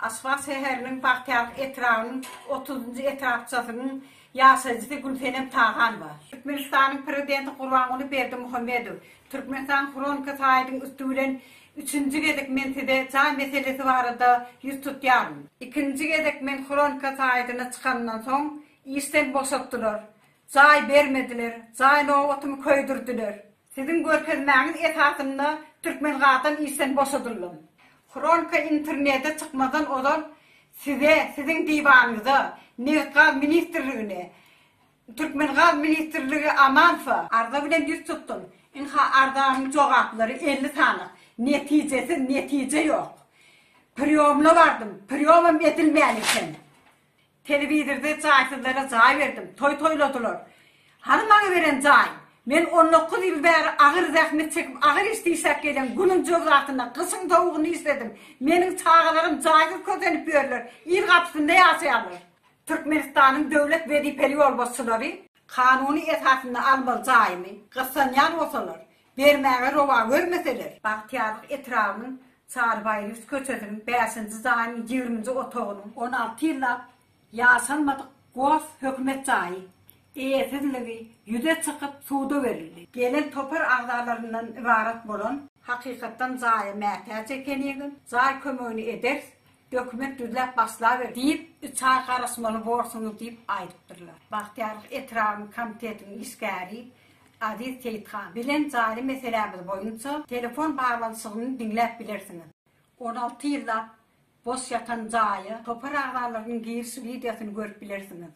Aşgabat şäheriniň Bagtyýarlyk etrabynyň otuz njy etrapçasynyň ýaşaýjysy Gülsenem Taganowa. Türkmenistanyň Prezidenti Gurbanguly Berdimuhamedow Türkmenistan Hronika saýtyň üsti bilen Üçünji gezek men size jaý meselesi barada ýüz tutýaryn. Ikinji gezek men Hronika saýtyna çykandan soň işden boşatdylar, jaý bermediler, jaý nobatymy köýdürdiler. Siziň görkezmäňiz esasynda Türkmengazdan işden boşadyldym. Hronka internete çykmazdan ozal size, siziň diwanyňyza, Nebitgaz ministrligine, Türkmengaz ministrligi Amanowa, arza bilen ýüz tutdum, ynha arzanyň jogaplary elli sanyk, netijesiz, netije ýok. Priýomla bardym, priýomam edilmän eken. Telewizorda jaýsyzlara jaý berdim, toý toýladylar. Hany maňa beren jaý? Men on dokuz ýyl bäri agyr zähmet çekip, agyr iş dişläp gelýän, günüň jozasynda, gyşyň sowugynda işledim. Meniň çagalarym jaýsyz kösenip ýörler, il gapysynda ýaşaýarlar. Türkmenistanyň döwlet wezipeli ýolbaşçylary kanuny esasynda almaly jaýyny gyssanýan bolsalar, Bermäge rowa görmeseler, Bagtyýarlyk etrabynyň Çarybaýylys köçesiniň bäşinji jaýynyň ýigriminji otagynyň, on alty ýyllap ýaşalmadyk gos hökümet jaýy, eýesizligi ýüze çykyp suda berildi. Gelen topar agzalaryndan ybarat bolan. Hakykatdan jaýa mätäç ekenigim, jaý kömegini ederis, Hökümet düzläp başlaber diýip, üç aý garaşmaly borsuňyz diýip aýdypdyrlar. Bagtyýarlyk etrabynyň komitetiniň işgäri Aziz Seýithan bilen jaýly meselämiz boýunça telefon baglanyşygyny diňläp bilersiňiz. On alty ýyllap boş ýatan jaýa topar agzalarynyň giriş wideosyny görüp bilersiňiz.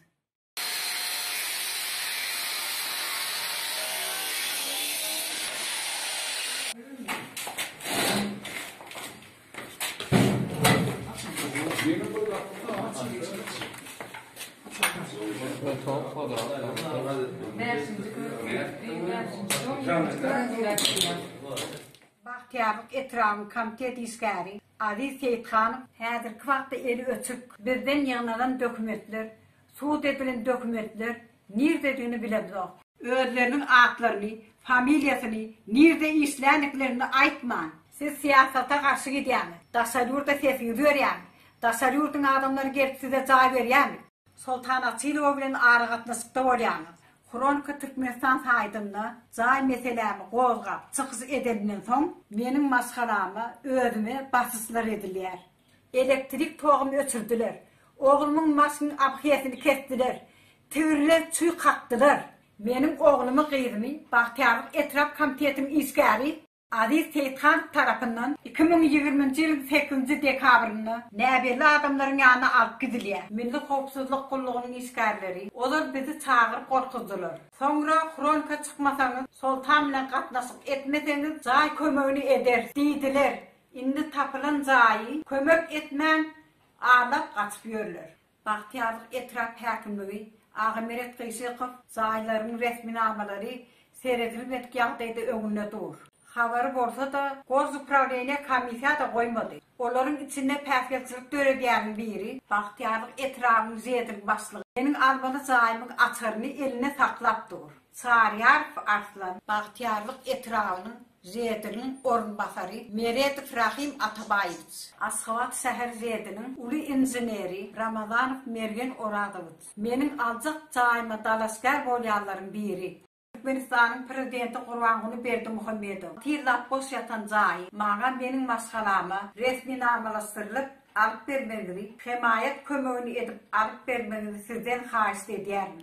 Bagtyýarlyk etrabynyň komitet işgäri Aziz Seýithanow häzirki wagtda eli öçük, bizden ýygnalan dokumentler, sud edilen dokumentler nirdedigini bilemzok. Özleriniň atlaryny, familiýasyny, nirde işlänliklerini aýtman. Siz syýasata garşy gidýäňiz. Daşary ýurda sesiňizi berýäňiz. Daşary ýurduň adamlary gelip size jaý berýärmi? Soltan Asylowa bilen aragatnaşykda bolýaňyz. Hronika Türkmenistan saýtynda jaý meselämi gozgap çykyş edenimden soň, meniň maşgalama, özüme basyşlar edilýär. Elektrik togumy öçürdiler. Oglumyň maşyn abhesini kesdiler. Tigirle çüý kakdylar. Meniň oglumy-gyzymy Bagtyýarlyk etrap komitetiniň işgäri, Aziz Seýithanov tarapyndan iki müň ýigriminji ýylyň sekizinji dekabrynda näbelli adamlaryň ýanyna alyp gidilýär. Milli howpsuzlyk gullugynyň işgärleri, Olar bizi çagyryp gorkuzdylar. Soňra fronka çykmasaňyz, Soltan bilen gatnaşyk etmeseňiz, jaý kömegini ederis diýdiler. Indi tapylan jaýy kömek etmän, alap gaçyp ýörler. Bagtyýarlyk etrap häkimligi Agameret Gyşykow jaýlaryň resminamalary seredilmedik ýagdaýda öňünde dur. Habary bolsa-da, Gozuprawneniýe komissiýa-da goýmady. Olaryň içinde päsgelçilik döredýäniň biri, Bagtyýarlyk etrabynyň ŽED-iň başlygy meniň almaly jaýymyň açaryny elinde saklap dur. Çaryýarow Arslan. Bagtyýarlyk etrabynyň Zediniň orunbasary Meredow Rahym Atabaýewiç. Aşgabat şäher Zediniň uly inženeri Ramazanow Mergen Orazowiç. Meniň aljak jaýyma dalaşgär bolýanlaryň biri. Türkmenistanyň Prezidenti Gurbanguly Berdimuhamedow tiz zat boş ýatan jaýy maňa meniň maşgalama resminamalaşdyrylyp alyp bermegiňizi, hemaýat kömegini edip alyp bermegiňizi sizden haýyşt edýärin.